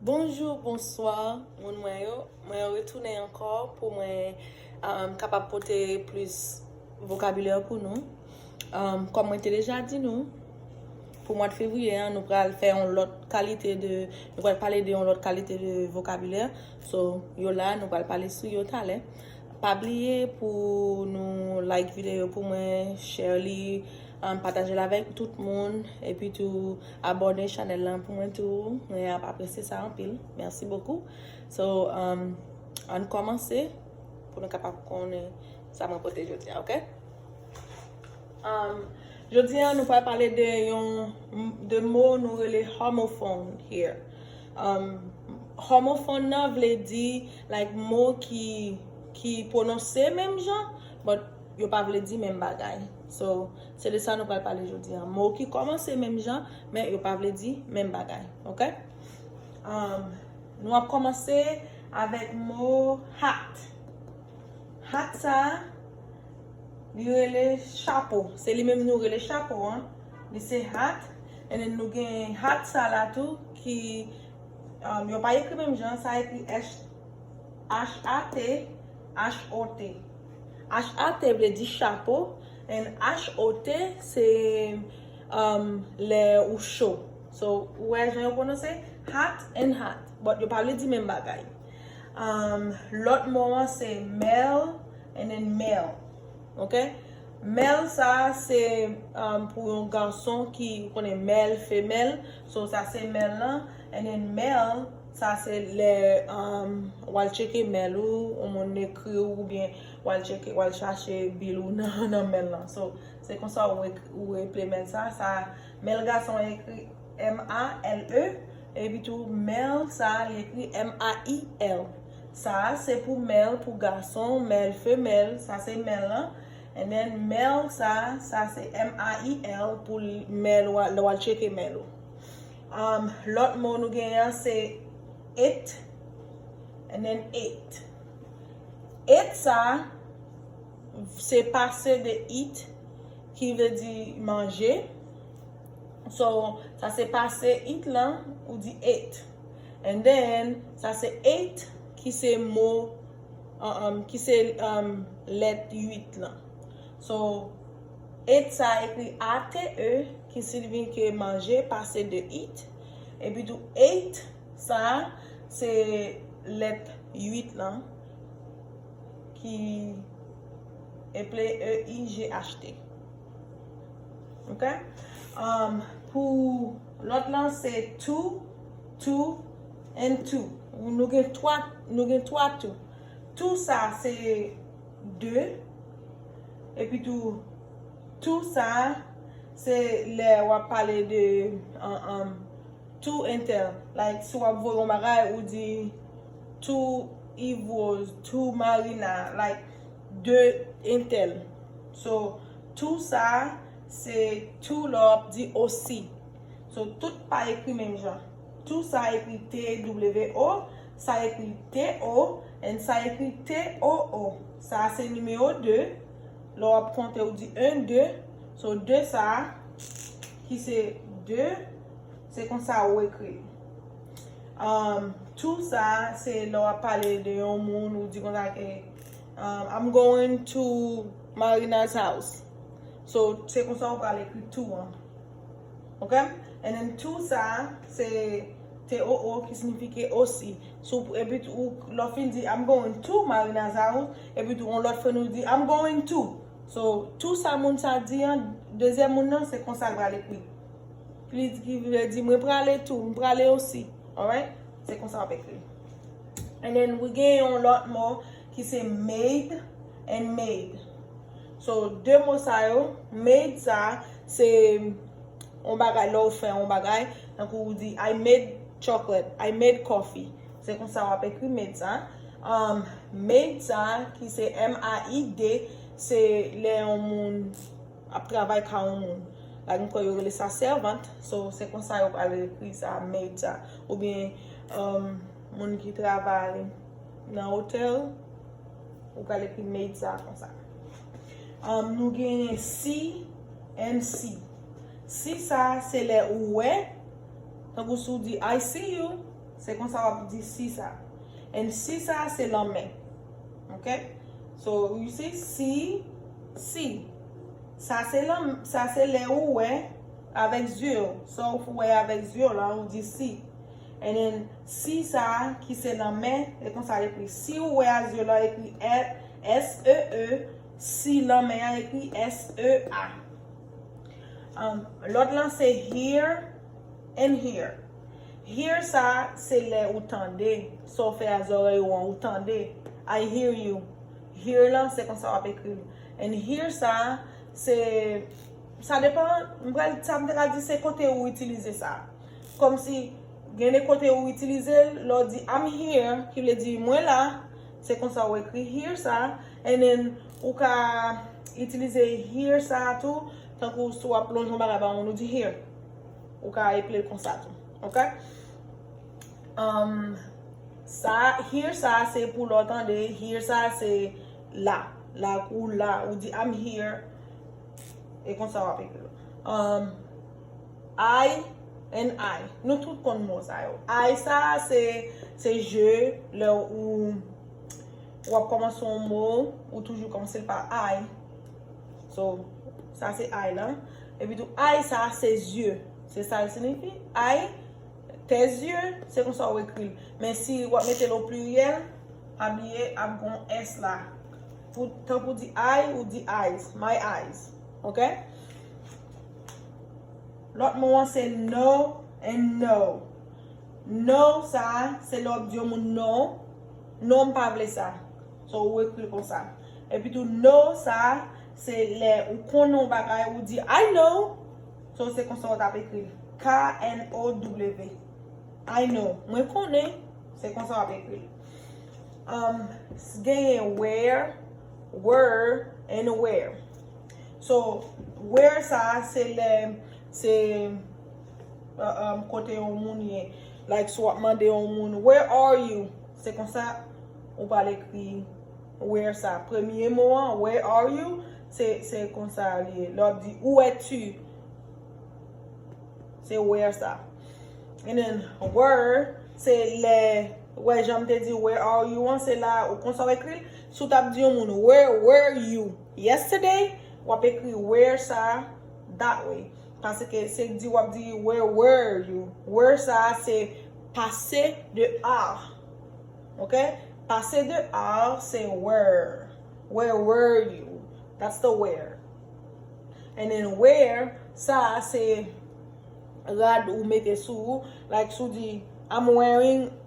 Bonjour bonsoir moun mwen yo mwen retounen ankò pou mwen um, kapab pote plis vokabilè pou nou um, kòm mwen te deja di nou pou mwad fevriye an nou pral fè yon lòt kalite de nou pral pale de yon lòt kalite de vokabilè so yo la nou pral pale sou yo talè pa bliye pou nou like videyo pou mwen share li Pataje l avèk tout moun epi tou abòne chanèl lan pou mwen tou mwen ap apresye sa anpil merci beaucoup so ann kòmanse pou nou kapab konnen sa mwen pote jodi a ok jodi a nou pral pale de yon de mo nou rele homofon here homofon nan vle di like mo ki ki pwononse menm jan but Yo pa vle di menm bagay. So, se de sa nou pral pale jodi an. Mo ki kòmanse menm jan, men yo pa vle di menm bagay. Ok? Am, nou ap kòmanse avèk mo hat. Hat sa a, li rele chapo. Se li menm nou rele chapo an. Li se hat. And then nou gen hat sa la tou ki, am, yo pa ekri menm jan. Sa ekri H-A-T, H-O-T. HAT vle di chapo and HOT se lè ou cho. So, ou wè jan yo pwononse? Hat and hot. But yo pa vle di menm bagay. Lòt mo an se mel and then male. Ok? Mel sa a se pou yon gason ki, ou konnen mel, femèl. So, sa se mel lan. And then male. Sa se lè w al tcheke mail ou, yon moun ekri w oubyen w al tcheke, w al chache bill ou nan mail lan. So, se konsa ou eple mail sa. Sa mail gason an ekri MALE epi tou mail sa li ekri MAIL. Sa a se pou mail pou gason, mail femèl, sa se mail lan. And then mail sa, sa se MAIL pou mail ou a, lè w al tcheke mail ou. Lòt mo nou genyen an se it and then ate. Ate sa a se pase de eat ki vle di manje. So, sa se pase eat lan, ou di ate. And then, sa se ate ki se mo, ki se lèt 8 lan. So, Eat sa ekri ate ki signifye manje pase de eat. Epitou ate sa se lèt 8 lan ki eple e i g h t. Ok? Pou lòt lan se two, two and two. Nou gen 3 tou. Two sa se. 2, Epitou, tou sa a, se lè w ap pale de tou entèl. Like si w ap voye yon bagay, ou di tou Ivrose, tou Marina, like 2 entèl. So, tou sa a, se tou lè w ap di osi. So, tout pa ekri menm jan. Tou sa ekri TWO, sa ekri TO, and sa ekri TOO. Sa a se nimewo 2, lè w ap konte ou di 1, 2, so 2 sa a ki se 2, se konsa ou ekri l. Tou sa a se lè w ap pale de yon moun ou di konsa ke I'm going to Marina's house. So, se konsa ou pral ekri tou an. Ok and then tou sa a se TOO ki signifike osi sou epi tou lè w fin di I'm going to Marina's house epi tou yon lòt fren ou di I'm going to so tou sa moun sa a di an dezyèm moun nan se konsa l pral ekri ki vle di mwen prale tou m prale osi alright se konsa w ap ekri l and then we gen yon lòt mo ki se made and made. So 2 mo sa yo, made sa a se yon bagay lè w fè yon bagay, tankou ou di I made chocolate, I made coffee. Se konsa w ap ekri made sa a. Maid sa a ki se m-a-i-d se lè yon moun ap travay ka yon moun. Like m kwè yo rele sa sèvant. So se konsa yo pral ekri sa a, maid sa a. Oubyen moun ki travay. Nan hotel ou pral ekri made sa konsa. Am nou genyen si and si. Si sa se lè ou wè, tankou si ou di I see you, se konsa wap di si sa. And si sa se lanmè. Ok? So you see si, si. Sa se lan, sa se lè ou wè avèk zye ou. Sa ou wè avèk zye ou la ou di si. And then si sa ki se nan mè e konsa l ekri si ou wè a zye lan ekri SEE si lan mè an ekri SEA Lòt lan se hear and here Hear sa se lè ou tande sa w fè a zòrèy ou an ou tande I hear you Hear lan se konsa w ap ekri l And here sa se sa depan sa m te ka di se kote ou itilize sa. Kòmsi, gen de kote ou itilize l, lè w di I'm here, ki vle di mwen la, se konsa ou ekri here sa a, and then ou ka itilize here sa a tou, tankou si w ap lonje yon bagay ba moun, ou di here. Ou ka eple l konsa tou. Ok? Sa a, here sa a, se pou lè w tande, here sa a se la. Like ou la, ou di I'm here, e konsa w ap ekri l. Ay, NI, nou tout konn mo sa yo. Ay sa a se je, lè ou w ap kòmanse yon mo, ou toujou kòmanse l pa ay. So, sa se ay la. Epi tou, ay sa a se zye. Se sa l sinifi. Ay, tes yeux, se konsa ou ekri l. Men si w ap mete l o pliryèl, pa bliye ap gen yon s la. Tan pou di ay, ou di eyes, my eyes. Ok? Lòt mo an se no and no. No sa a, se lè w ap di yon moun non. Non m pa vle sa. So ou ekri l konsa. Epitou no sa a, se lè ou konnen yon bagay, ou di I know. So se konsa ou t ap ekri l. K-n-o-w. I know. Mwen konnen. Se konsa w ap ekri l. Genyen where, wer and where. So, where sa a se lè se um kote yon moun ye. Like si w ap mande yon moun where are you? Se konsa ou pral ekri where sa a. Premye mo an, where are you? Se konsa li ye. Lè w ap di où es tu? Se where sa a. And then were se lè, wè jan m te di where are you an se la a. Ou konsa w ekri l? Si w t ap di yon moun where were you? Yesterday, wap ekri where sa that way. Paske se di wap di where were you. Were sa se pase de are. Ok? Pase de are se were. Where were you? That's the where. And then where sa se rad ou mete sou ou. Like si w di I'm wearing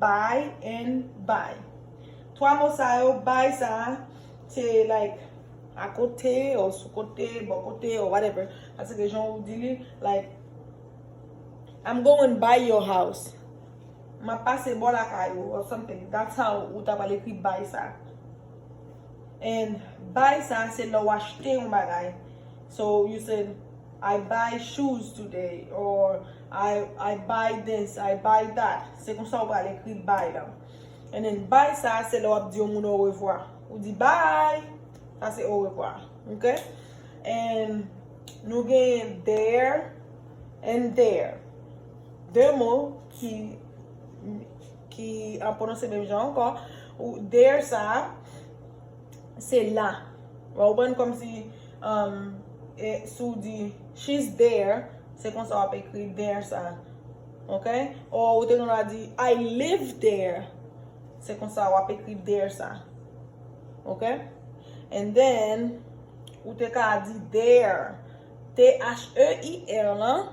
Bay and buy. Twa mo sa yo, bay sa a, se like akote or sou kote, bò kote or whatever. Pase ke jan ou di li, like I'm going by your house. M ap pase bò lakay ou or something. That's how ou ta pral ekri bay sa a. And buy sa a se lè ou achte yon bagay. So you said I buy shoes today or I buy this, I buy that. Se konsa ou pral ekri buy la. And then buy sa a se lè w ap di yon moun orevwa. Ou di buy. Sa se orevwa. Ok? And nou gen there and there. De mo ki ki an pwononse menm jan ankò. There sa a se la. Ou konprann kòmsi. Um e si w di She's there, se konsa w ap ekri there sa. Ok? Or ou te gen dwa di I live there. Se konsa w ap ekri there sa. Ok? And then, ou te ka di there. T-h-e-i-r lan.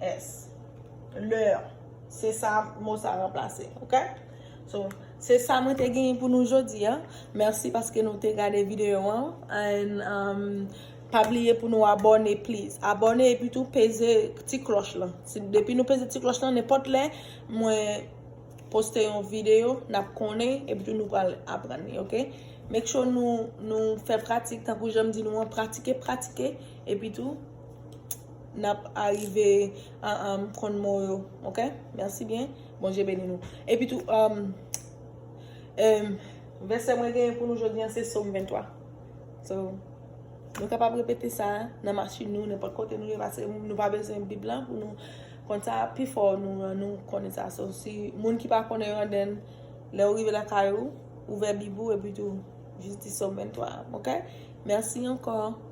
S. Leur. Se sa mo sa ranplase. Ok? So, se sa mwen te genyen pou nou jodi a. Mèsi paske nou te gade videyo an. And, um, pa bliye pou nou abòne please. Abòne epi tou peze ti klòch lan. Depi nou peze ti klòch lan, nenpòt lè mwen poste yon videyo, n ap konnen epi tou nou pral aprann li. Ok? Make sure nou, nou fè pratik tankou jan m di nou an. Pratike, pratike epi tou. nap arive konn mo yo ok merci bien bondye beni nou epi tou vèsè mwen genyen pou nou jodi an se som 23 so nou kapab repete sa nan machin nou nenpòt kote nou ye pase nou pa bezwen bib la pou nou konn sa pifò nou konnen sa so si moun ki pa konnen yo anden lèw rive lakay ou ouvè bib ou epi tou jis di som 23 ok merci ankò